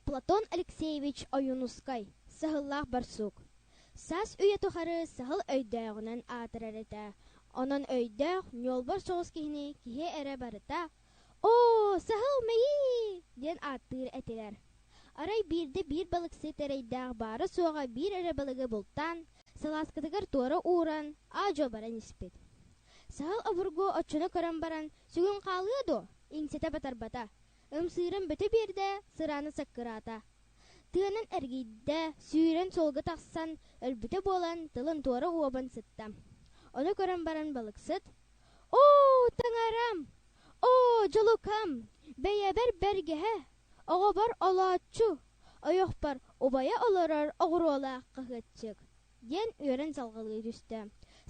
Платон Алексеевич Ойуунускай, саһыллаах барсук. Саас үйэ тухары саһыл өйдөөҕүнэн аатырар этэ. Онон өйдөөх, ньуолбар соҕус киһини киһи эрэ барыта «Оо, саһыл мэйии!» диэн ааттыыр этилэр. Арай биирдэ биир балыксыт эрэйдээх баара-суоҕа биир эрэ балыгы бултаан, салааскатыгар туора ууран, аа-дьуо баран испит. Саһыл обургу оччону көрөн баран, «Сүгүн хаалыа дуо? Иҥсэтэ батарбата. Ымсыырын бөтө биэрдэ, сырааны саккыраата. Тыанан эргийдэ, сүүрэн суолга тахсан, өлбүтэ буолан, тылын туора уобан сытта. Ону көрөн баран балыксыт, «Оо, таҥарам! Оо, дьулукам! Бэйэбэр бэргэһэ! Оҕобор олооччу! Ойохпор убайа олорор оҕуруолаах хаһыатчык!» диэн үөрэн салҕалыы түстэ.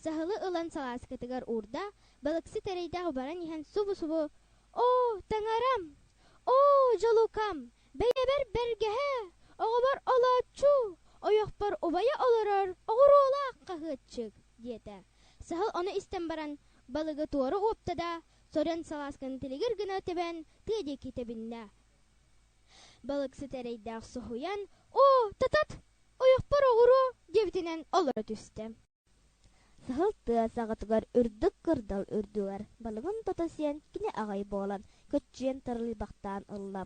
Саһылы ылан салааскатыгар уурда, балыксыт эрэйдээх баран иһэн субу-субу «Оо, таҥарам! Оо, дьулукам! Бэйэбэр бэргэһэ! Оҕобор олооччу! Ойохпор убайа олорор оҕуруолаах хаһыатчык!» диэтэ. Саһыл ону истэн баран балыгы туора уопта да, сорьон салаасканы тилигир гына тэбэн тыа диэки тэбиннэ. Балыксыт эрэйдээх соһуйан «Оо, татат! Ойохпор оҕуруо диэбитинэн олоро түстэ. Саһыл тыа саҕатыгар үрдүк кырдал үрдүгэр балыгын тото сиэн кини аҕай буолан көччүйэн тарыйбахтаан ылла.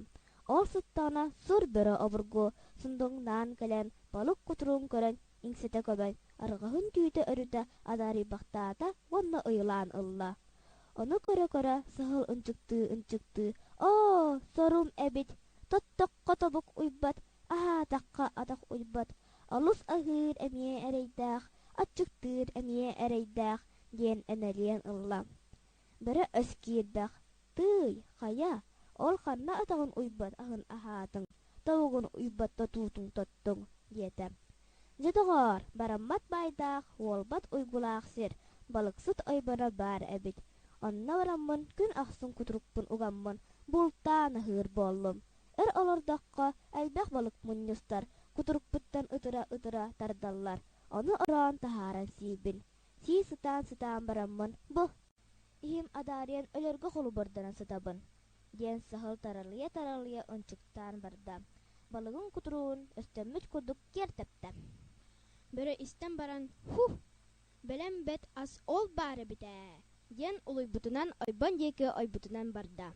Ол сыттаҕына сур бөрө обургу сундуҥнаан кэлэн балык кутуругун көрөн иҥситэ көбөн арҕаһын түүтэ өрүтэ адаарыйбахтаата уонна ыйылаан ылла. Ону көрө-көрө саһыл ынчыктыы-ынчыктыы «Оо, сорум эбит, тоттоххо тобук уйбат Аһаатахха атах уйбат, олус аһыыр эмиэ эрэйдээх, аччыктыыр эмиэ эрэйдээх, диэн эмэлийэн ылла. Бөрө өс киирбэх, Тыый, хайа, ол ханна атаҕын уйбат аһын аһаатыҥ, тобугун уйбат тотуутун тоттуҥ, диэтэ. Дьэ, доҕоор, бараммат баайдаах, уолбат уйгулаах сир, балыксыт ойбоно баар эбит. Онно бараммын күн ахсын кутурукпун угаммын бултаан аһыыр буоллум, Эр олордоххо, элбэх балык мунньустар кутурукпуттан ытыра-ытыра тардаллар, ону ороон таһааран сиибин. Сии сытаан-сытаан бараммын, Бу, иһим адаарыйан өлөргө холобурданан сытабын, диэн саһыл таралыйа-таралыйа ынчыктаан барда. Балыгын кутуругун өстөммүт курдук киэр тэптэ. Бөрө истэн баран, Һу! Бэлэм бэт ас ол баар эбит ээ, диэн улуйбутунан ойбон диэки ойбутунан барда.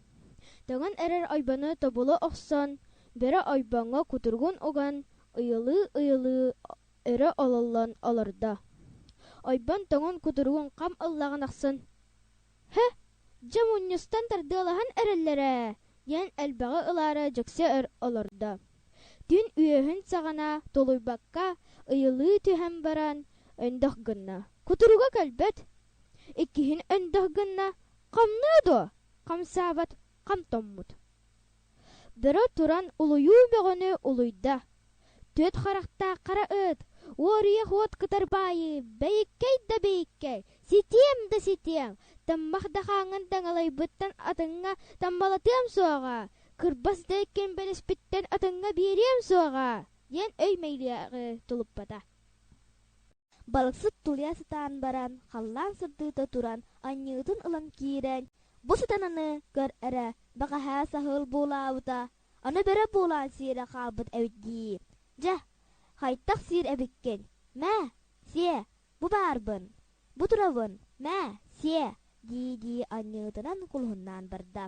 Тоҥон эрэр ойбону тобулу охсон, бөрө ойбоҥҥо кутургун уган, ыйылыы-ыйылыы өрө ололлон олордо. Ойбон тоҥон кутургун хам ыллаҕын ахсын «Һэ, дьэ мунньустан тардыалаһан эрэллэр ээ» диэн элбэҕи ылаары дьиксэ өр олордо. Күн үөһүн саҕана толуйбакка ыйылыы түһэн баран, өндөх гынна. Кутуруга кэлбэт. Иккиһин өндөх гынна, хамныы дуо, хамсаабат, хамтоммут. Бөрө туран улуйуу бөҕөнү улуйда. Түөрт харахтаах хара ыт, уоруйа хуот кытар баайы, бэйиккэй да бэйиккэй, ситиэм да ситиэм, таммах да хаангын таҥалайбыттан атыҥҥа таммалатыам суоҕа, кырбас да эккин бэлэспиттэн атыҥҥа биэриэм суоҕа диэн өймөйлөөҕү тулуппата балыксыт тулуйа сатаан баран халлаан сырдыыта туран анньыытын ылан киирэн бу сатананы көр эрэ бэҕэһээ саһыл буолаабыта аны бөрө буолаан сиэрэ хаалбыт эбит дии дьэ хайдах сиир эбиккин мээ сиэ бу баарбын бу турабын мээ сиэ дии дии анньыытынан кулуһуннаан барда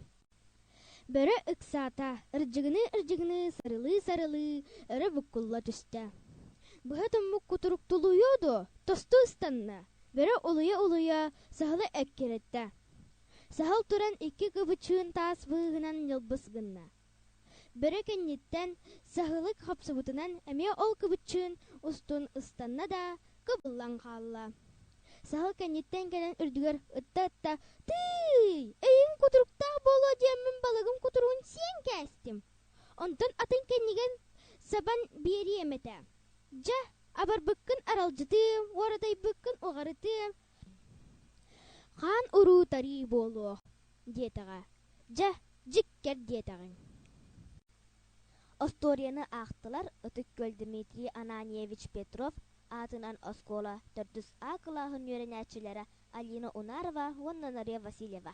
Бөрө ыксаата, ырдьыгыныы-ырдьыгыныы сарылыы-сарылыы өрө буккулла түстэ. Быһа туммут кутурук тулуйуо дуо, тосту ыстанна, бөрө улуйа-улуйа саһылы эккирэттэ. Саһыл туран икки кыбычыын таас быыһынан ньылбыс гынна. Бөрө кэнниттэн саһылык хапсыбытынан эмиэ ол кыбычыын устун ыстанна да, кыбыллан хаалла. Саһыл кэнниттэн кэлэн үрдүгэр ытта-ытта «Тыый! Эйиҥ кутуруктаах буолуо диэн мин балыгым кутуругун сиэн кээстим. Онтон атын кэннигин сабан биэриэм этэ. Дьэ, абарбыккын аралдьытыам, уоратайбыккын уҕарытыам. Хаан уруу-тарыы буолуо» диэтэҕэ. «Дьэ, дьиккэр» диэтэҕиҥ. Остуоруйаны аахтылар Ытык-Күөл Дмитрий Ананьевич Петров аатынан оскуола төрдүс А кылааһын үөрэнээччилэрэ Алина Унарова уонна Нария Васильева